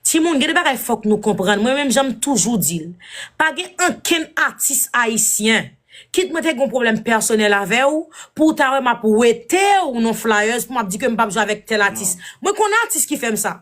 Timoun gen de bagay fòk nou konprann mwen menm janm toujou dil pa gen ankenn atis ayisyen kit mwen te gon pwoblèm pèsonèl avèw pouw ta wè map wetew non flyers pou map di kem pap jwe avèk tèl atis mwen konn atis ki fèm sa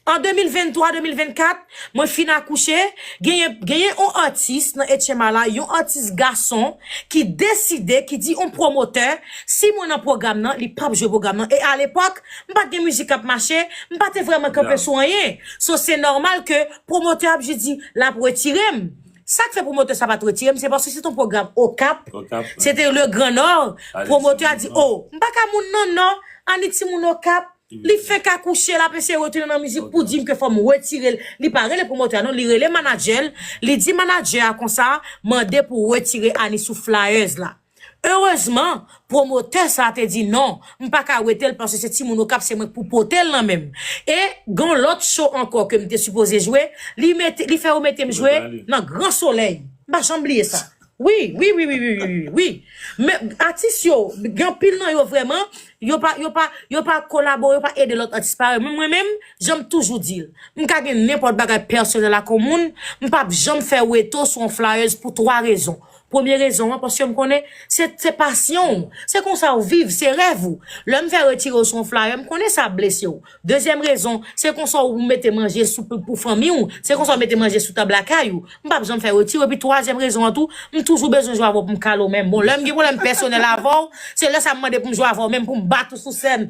an 2023 2024 mwen fin akouche genyen genyen on atis nan etchenma la yon atis gason ki deside ki di on pwomotè si mwen nan pwogram nan li pap jwe pwogram nan e alepòk m pat gen mizik kap mache, m pa te vrèman kanpe sou anyen. So se nòmal ke pwomotè ap jis di l ap retire m. Sak fè pwomotè sa pat retire m se paske se te yon pwogram Okap, se te le Gran Nò, pwomotè a di o, m pa ka moun nan Nò, Annik ti moun Okap, li fenk akouche l ap eseye retounen nan mizik pou di m ke fò m retire l. Li pa rele pwomotè a non, li rele manadjè l, li di manadjè a konsa, mande pou retire Annik sou flyers la. Erezman, pwomotè sa a te di non, m pa ka wete l paske se timoun Okap se mwen k pou pote l nan men m. E, gen yon lòt cho ankò ke m te sipoze jwe, li mete, li fè yo mete m jwe nan gran solèy. M pa janm bliye sa. Wi, wi, wi, wi, wi, wi, wi, wi. Men, atis yo, gen anpil nan yo vrèman, yo pa, yo pa, yo pa kolabore, yo pa ede lòt atis parèy mwen. Mwen menm, jan m toujou di l, m ka gen nenpòt bagay pèsonèl ak yon moun, m p ap janm fè weto sou yon flayèz pou twa rezon. Premye rezon an, paske m konnen se pasyon ou, se konsa ou viv, se rèv ou. Lè m fè retire ou sou yon flayè, m konnen sa ap blese ou. Dezyèm rezon, se konsa ou mete manje sou pou fanmi ou, se konsa ou mete manje sou tab lakay ou. M pap janm fè retire ou. Epi twazyèm rezon an tou, m toujou bezwen jwe avè w pou m kale w menm. Bon, lè m gen pwoblèm pèsonèl avè w, se lè sa m mande pou m jwe avè w menm, pou m bat ou sou sèn.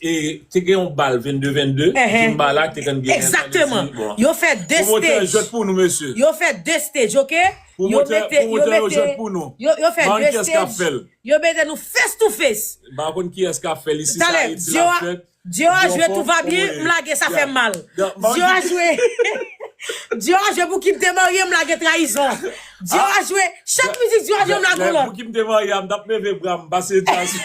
E te gen yon bal 22 22 zumba la te konn genyen sa vle di bon. Yo fè 2 stage. Promotè yo jwèt pou nou mesye. Yo fè 2 stage ok. Promotè promotè yo jwèt pou nou. Yo fè 2 stage. Yo mete nou face to face. M pa konn kiyès kap fèl isi sa Ayiti la fèt. Dior a jwe tout va bien m lage sa fèm mal. Dior a jwe Dior a jwe pou kim te marye m lage trayizon. Dior a jwe chak mizik Dior a jwe m lage yon lòt. Pou kim te marye a m tap leve bram pase trayizon.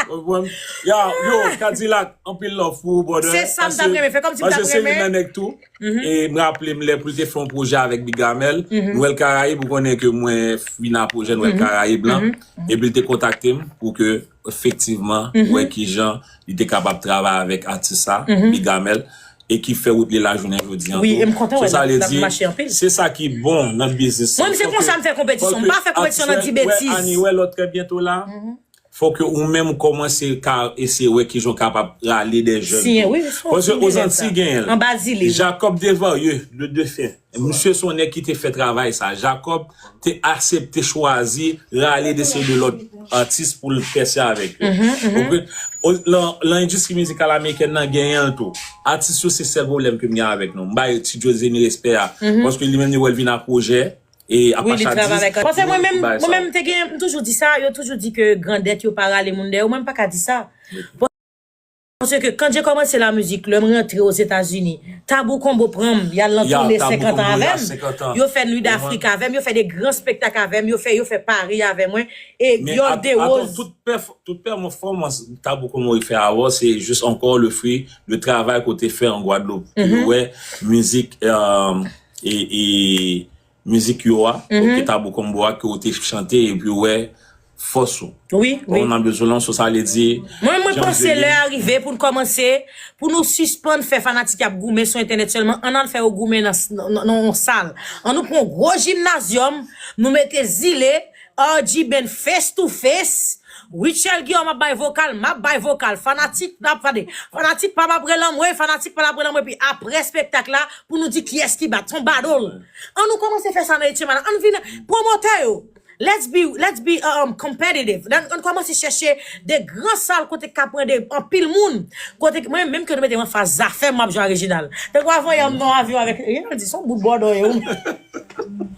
Konprann? Ya, yo, Kadilak, anpil love pou ou brother. Se sam tap renmen, fè kòmsi m tap renmen. Pase se youn nan nèg tou, e m raple m lè pou l te fè yon pwojè avèk Bigamèl, Nwèl Karayib, ou konnen ke mwen vin a pwojè Nwèl Karayib lan, epi l te kontakte m pou ke efektivman wè kijan li te kapab travay avèk atis sa, Bigamèl. e ki fè wout li lajounen jodi an tou. Sou sa li di, Se sa ki bon nan biznis lan, fò ke atis la wè Annie wè lò trè byento la, fò ke ou menm kòmanse ka eseye wè ki jan w kapab rale dè jèn tou. Paske Ozanti genyen l. Jacob Desvarieux, le defen. Misye se yon nèg ki te fè travay sa. Jacob te asepte chwazi rale de seri de lòt atis pou l pèse avèk yo. Lan endistri mizikal amerikèn nan genyen l tou. Atis yo se sèl pwoblèm ke m gen avèk nou. M bay Ti Djozemi respè a. Paske li menm li wè l vin a pwojè. E a pa chadiz. Paske mwen menm mwen menm m te gen m toujou di sa. Yo toujou di ke grandèt yo pa rale moun dèyè yo. Mwen m pa ka di sa. Paske ke kanje komanse la mizik lèm rantre o zeta zini tabou konbo pranm yal nan toune 50 an avèm yo fè nuit d'afrik avèm yo fè de gran spektak avèm yo fè yo fè pari avè mwen e viol de rose Tout pèfòmans Tabou Conboy fè awò se jis ankò le fri de travay ke w te fè an Gwadloup pou yo wè mizik e Mizik yo a, ok tabou combo a ke ou te chante epi ou wè fòs ou. Wi, wi. Ou nan bezwen lan so sa vle di. Mwen, mwen panse lè a rive pou n kòmanse, pou nou sispann fè fanatik y ap goumen sou entènèt sèlman, ann al fè yo goumen nan yon sal. An nou pran yon gwo jimnazyòm, nou mete zile, RGben face to face Rutshelle Guillaume ap bay vokal map bay vokal fanatik nap tande fanatik pam ap rele anmweyy fanatik pam ap rele anmweyy epi aprè spektak la pou nou di kiyès ki bat son badol an nou kòmanse fè sa nan Etchen Manager ann vin pwomotè yo let's be let's be competitive ann kòmanse chèche de gran sal kote k ka pran de anpil moun kote k mwen menm ke nou mete m anfas zafèm map jwe a Reginald tankou avan yè m nan avyon avèk Reginald di son bout bòdò ye ou menm.